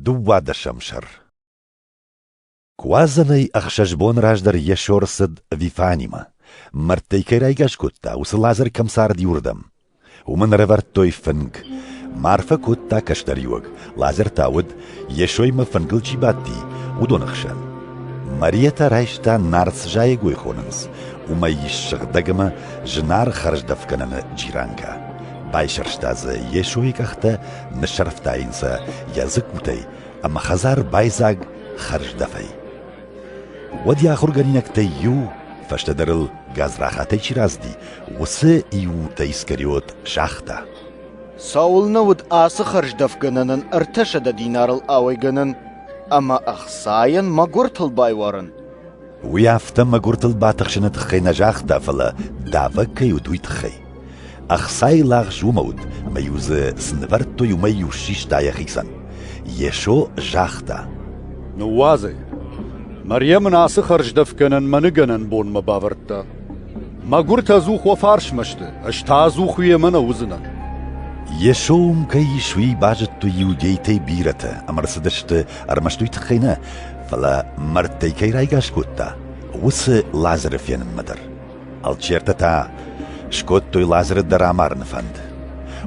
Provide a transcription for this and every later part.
Дыууадӕсӕм сӕр Куадзӕнӕй ӕхсӕз бон раздӕр Йесо рацыд Вифанимӕ. Мӕрдтӕй кӕй райгас кодта, уыцы Лазар кӕм цард иуырдӕм. Уым ын ӕрӕвӕрдтой фынг. Марфӕ кодта кӕстӕриуӕг, Лазар та уыд, Йесоймӕ фынгыл чи бадти, уыдоны хсӕн. Марийӕ та райста нарц зайӕгой хонынц, уымӕй ис сыгъдӕг ӕмӕ зынаргъ хӕрздӕфгӕнӕны джиранкӕ. Байсӕрста дзы Йесойы къӕхтӕ Ныссӕрфтайынцӕ йӕ дзыккутӕй ӕмӕ хӕдзар байдзаг хӕрздӕфӕй. Уӕд йӕ ахуыргӕнинӕгтӕй иу, фӕстӕдӕр ыл гадзрахатӕй чи разыди, уыцы иутӕ Искариот загъта. Цӕуылнӕ уыд ацы хӕрздӕфгӕнӕнӕн ӕртӕсӕдӕ динарыл ауӕйгӕнӕн ӕмӕ ӕхцайӕн мӕгуыртыл байуарын? Уый афтӕ мӕгуыртыл батыхсыны тыххӕй нӕ загъта, фӕлӕ давӕг кӕй уыд, уый тыххӕй. Ӕхцайы лагъз уымӕ уыд, ӕмӕ-иу дзы цы нывӕрдтой, уымӕй-иу систа йӕхицӕн. Йесо загъта: Ныууадзӕй. Мариам ын ацы хӕрздӕфгӕнӕн мӕныгӕнӕн бонмӕ бавӕрдта. Мӕгуыртӕ ӕдзух уӕ фарсмӕ сты, ӕз та ӕдзух уемӕ нӕ уыдзынӕн. Йесо уым кӕй ис, уый базыдтой иудейтӕй бирӕтӕ, ӕмӕ рцыдысты ӕрмӕст уый тыххӕй нӕ, фӕлӕ мӕрдтӕй кӕй райгас кодта, уыцы Лазыры фенынмӕ дӕр. Алчертӕ та скодтой Лазыры дӕр амарыны фӕнд.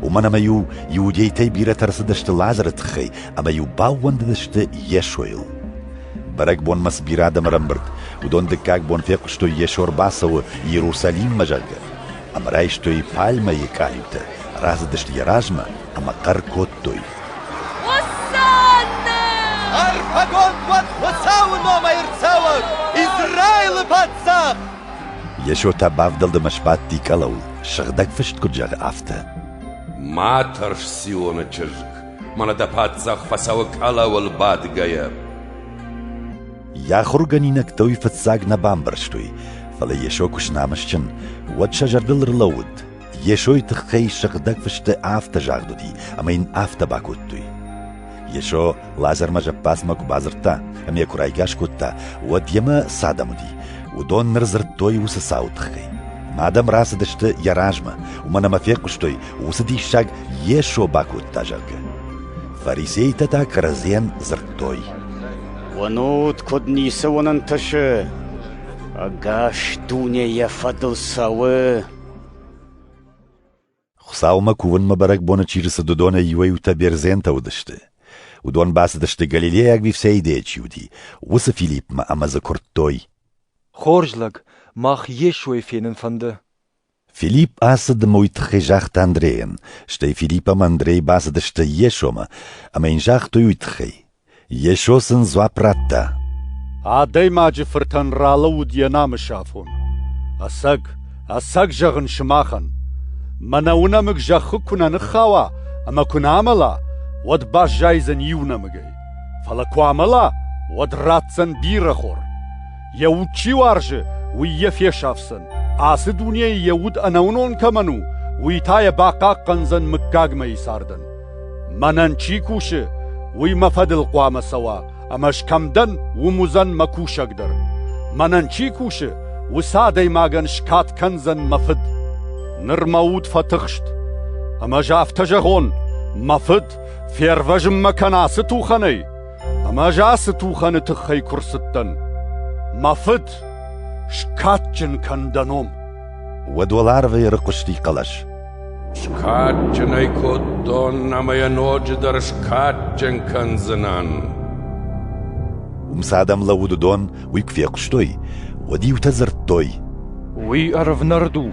Уымӕн ӕмӕ-иу иудейтӕй бирӕтӕ ӕрцыдысты Лазыры тыххӕй ӕмӕ-иу баууӕндыдысты Йесойыл. Бӕрӕгбонмӕ цы бирӕ адӕм ӕрӕмбырд, уыдон дыккаг бон фехъуыстой, Йесо ӕрбацӕуы Иерусалиммӕ, зӕгъгӕ, ӕмӕ райстой пальмӕйы къалиутӕ, рацыдысты йӕ размӕ ӕмӕ хъӕр кодтой: Ӕрфӕгонд уӕд Хуыцауы номӕй ӕрцӕуӕг Израилы паддзах! Йесо та бавдӕлдмӕ сбадти къӕлӕу, сыгъдӕг фыст куыд зӕгъы, афтӕ. Ма тӕрс Сионы чызг, мӕнӕ дӕ паддзах фӕцӕуы къӕлӕуыл бадгӕйӕ. Йӕ ахуыргӕнинӕгтӕ уый фыццаг нӕ бамбӕрстой, фӕлӕ Йесо куы знамысджын, уӕд сӕ зӕрдыл ӕрлӕууыд, Йесойы тыххӕй сыгъдӕг фысты афтӕ загъд уыди, ӕмӕ йын афтӕ бакодтой. Йесо Лазармӕ зӕппадзмӕ куы бадзырдта ӕмӕ йӕ куы райгас кодта, уӕд йемӕ цы адӕм уыди, уыдон ныр дзырдтой уыцы цауы тыххӕй. Ӕмӕ адӕм рацыдысты йӕ размӕ, уымӕн ӕмӕ фехъуыстой, уыцы диссаг Йесо бакодта, зӕгъгӕ. Фарисейтӕ та кӕрӕдзийӕн дзырдтой. Уынут, куыд ницы уынын тысы? Ӕгас дуне йӕ фӕдыл цӕуы. Хуыцаумӕ кувынмӕ бӕрӕгбоны чи рцыд, уыдонӕй иуӕй-иутӕ бердзентӕ уыдысты. Уыдон бацыдысты, Галилейаг Вифсеидӕйӕ чи уыди, уыцы Филиппмӕ ӕмӕ дзы куырдтой. «Хорз лӕг, мах Йесойы фенын фӕнды». Филипп ацыд ӕмӕ уый тыххӕй загъта Андрейӕн, стӕй Филипп ӕмӕ Андрей бацыдысты Йесомӕ, ӕмӕ йын загътой уый тыххӕй. Йесо сын дзуапп радта. Адӕймаджы фыртӕн ралӕууыд йӕ намысы афон. Ӕцӕг, ӕцӕг зӕгъын сымахӕн, мӕнӕ уынӕмыг зӕххы куы нӕ ныххауа ӕмӕ куы нӕ амӕла, уӕд баззайдзӕн иу нӕмыгӕй, фӕлӕ куы амӕла, уӕд ратдзӕн бирӕхор. Йӕ уд чи уарзы, уый йӕ фесафдзӕн, ацы дунейы йӕ уд ӕнӕуынон кӕмӕн у, уый та йӕ бахъахъхъӕндзӕн мыггагмӕйы цардӕн. Мӕнӕн чи кусы, уый мӕ фӕдыл хъуамӕ цӕуа, ӕмӕ ӕз кӕм дӕн, уым уыдзӕн мӕ кусӕг дӕр. Мӕнӕн чи кусы, уыцы адӕймагӕн скад кӕндзӕн мӕ фыд. Ныр мӕ уд фӕтыхст, ӕмӕ ӕз афтӕ зӕгъон, мӕ фыд, фервӕзын мӕ кӕн ацы тухӕнӕй, ӕмӕ ӕз ацы тухӕны тыххӕй куы рцыдтӕн. Мӕ фыд, скадджын кӕн дӕ ном. уӕд уӕларвӕй ӕрыхъуысти хъӕлӕс. Скадджын ӕй кодтон ӕмӕ йӕ ноджыдӕр скадджын кӕндзынӕн. Уым цы адӕм лӕууыд уыдон уый куы фехъуыстой, уӕд иутӕ дзырдтой. Уый ӕрвнӕрд у.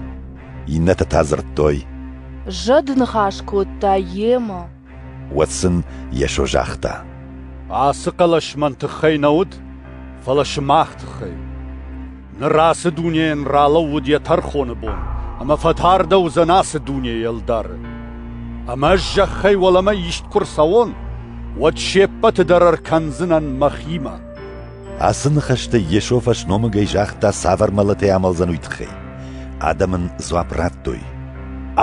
Иннӕтӕ та дзырдтой. Зӕд ныхас кодта йемӕ. Уӕд сын Йесо загъта: Ацы хъӕлӕс мӕн тыххӕй нӕ уыд, фӕлӕ сымах тыххӕй. Ныр ацы дунейӕн ралӕууыд йӕ тӕрхоны бон, ӕмӕ фӕтардӕуыдзӕн ацы дунейы ӕлдары. Ӕмӕ ӕз зӕххӕй уӕлӕмӕ ист куы рцӕуон, уӕд се ппӕты дӕр ӕркӕндзынӕн мӕхимӕ. Ацы ныхӕстӕ Йесо фӕсномыгӕй загъта цавӕр мӕлӕтӕй амӕлдзӕн уый тыххӕй. Адӕм ын дзуапп радтой.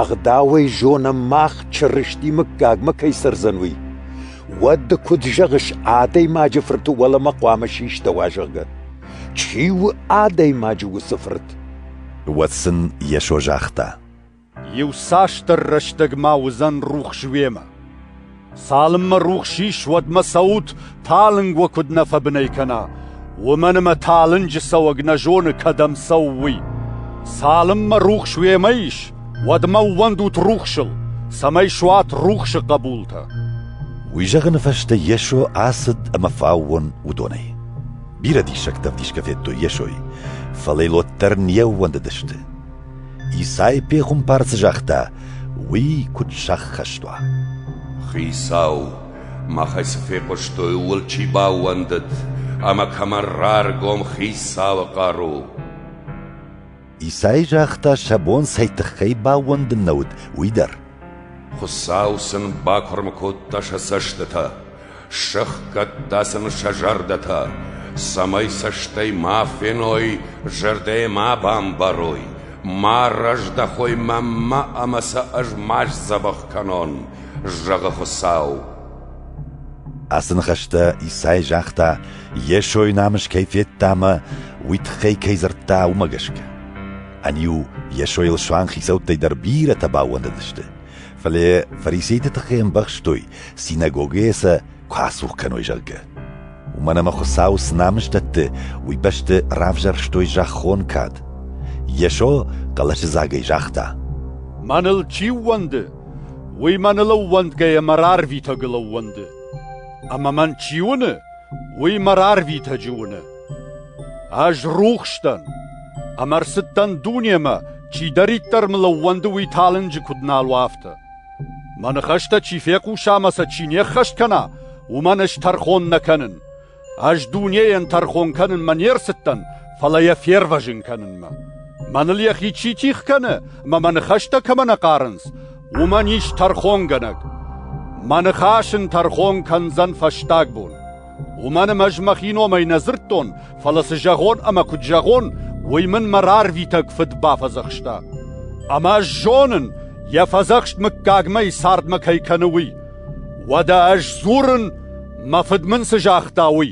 Ӕгъдауӕй зонӕм мах Чырысти мыггагмӕ кӕй цӕрдзӕн, уый. Уӕд ды куыд зӕгъыс, адӕймаджы фырты уӕлӕмӕ хъуамӕ систӕуа, зӕгъгӕ? Чи у адӕймаджы уыцы фырт? Уӕд сын Йесо загъта. Иуцасдӕр рӕстӕгмӕ уыдзӕн рухс уемӕ. Цалынмӕ рухс ис, уӕдмӕ цӕут, талынг уӕ куыд нӕ фӕбынӕй кӕна, уымӕн ӕмӕ талынджы цӕуӕг нӕ зоны, кӕдӕм цӕуы, уый. Цалынмӕ рухс уемӕ ис, уӕдмӕ ууӕндут рухсыл, цӕмӕй суат рухсы хъӕбултӕ. Уый зӕгъыны фӕстӕ Йесо ацыд ӕмӕ фӕаууон уыдонӕй. Бирӕ диссӕгтӕ ӕвдисгӕ федтой Йесойы, фӕлӕ йыл уӕддӕр не ууӕндыдысты. Исай пехуымпар цы загъта, уый куыд сӕххӕст уа? Хицау, махӕй цы фехъуыстой, ууыл чи баууӕндыд ӕмӕ кӕмӕ раргом Хицауы хъару? Исай загъта, сӕ бон цӕй тыххӕй баууӕндын нӕ уыд, уый дӕр. Хуыцау сын бакуырм кодта сӕ цӕстытӕ Сӕхгӕдта сын сӕ зӕрдӕтӕ, цӕмӕй цӕстӕй ма феной, зӕрдӕйӕ ма бамбарой, ма раздӕхой мӕнмӕ ӕмӕ сӕ ӕз ма сдзӕбӕх кӕнон, зӕгъы Хуыцау. Ацы ныхӕстӕ Исай загъта, Йесойы намыс кӕй федта ӕмӕ уый тыххӕй кӕй дзырдта, уымӕ гӕсгӕ. Ӕниу Йесойыл суанг хицӕуттӕй дӕр бирӕтӕ баууӕндыдысты, Фӕлӕ фарисейтӕ тыххӕй ӕмбӕхстой, синагогӕйӕ сӕ куы ацух кӕной, зӕгъгӕ. Уымӕн ӕмӕ Хуыцау цы намыс дӕтты, уый бӕсты равзӕрстой зӕххон кад. Йесо хъӕлӕсыдзагӕй загъта: «Мӕныл чи ууӕнды, уый мӕныл ӕууӕндгӕйӕ мӕ рарвитӕгыл ӕууӕнды. Ӕмӕ мӕн чи уыны, уый мӕ рарвитӕджы уыны. Ӕз рухс дӕн, ӕмӕ рцыдтӕн дунемӕ, чидӕриддӕр мыл ӕууӕнды уый талынджы куыд нал у, афтӕ. Мӕ ныхӕстӕ чи фехъуса ӕмӕ сӕ чи не ххӕст кӕна, уымӕн ӕз тӕрхон нӕ кӕнын. Ӕз дунейӕн тӕрхон кӕнынмӕ не рцыдтӕн, фӕлӕ йӕ фервӕзын кӕнынмӕ. Мӕныл йӕхи чи тих кӕны, ӕмӕ мӕ ныхӕстӕ кӕмӕ нӕ хъарынц, уымӕн ис тӕрхонгӕнӕг. Мӕ ныхас ын тӕрхон кӕндзӕн фӕстаг бон. Уымӕн ӕмӕ ӕз мӕхи номӕй нӕ дзырдтон, фӕлӕ цы зӕгъон ӕмӕ куыд зӕгъон, уый мын мӕ рарвитӕг фыд бафӕдзӕхста. Ӕмӕ ӕз зонын, йӕ фӕдзӕхст мыггагмӕ цардмӕ кӕй кӕны, уый. Уӕдӕ ӕз дзурын, мӕ фыд мын цы загъта, уый.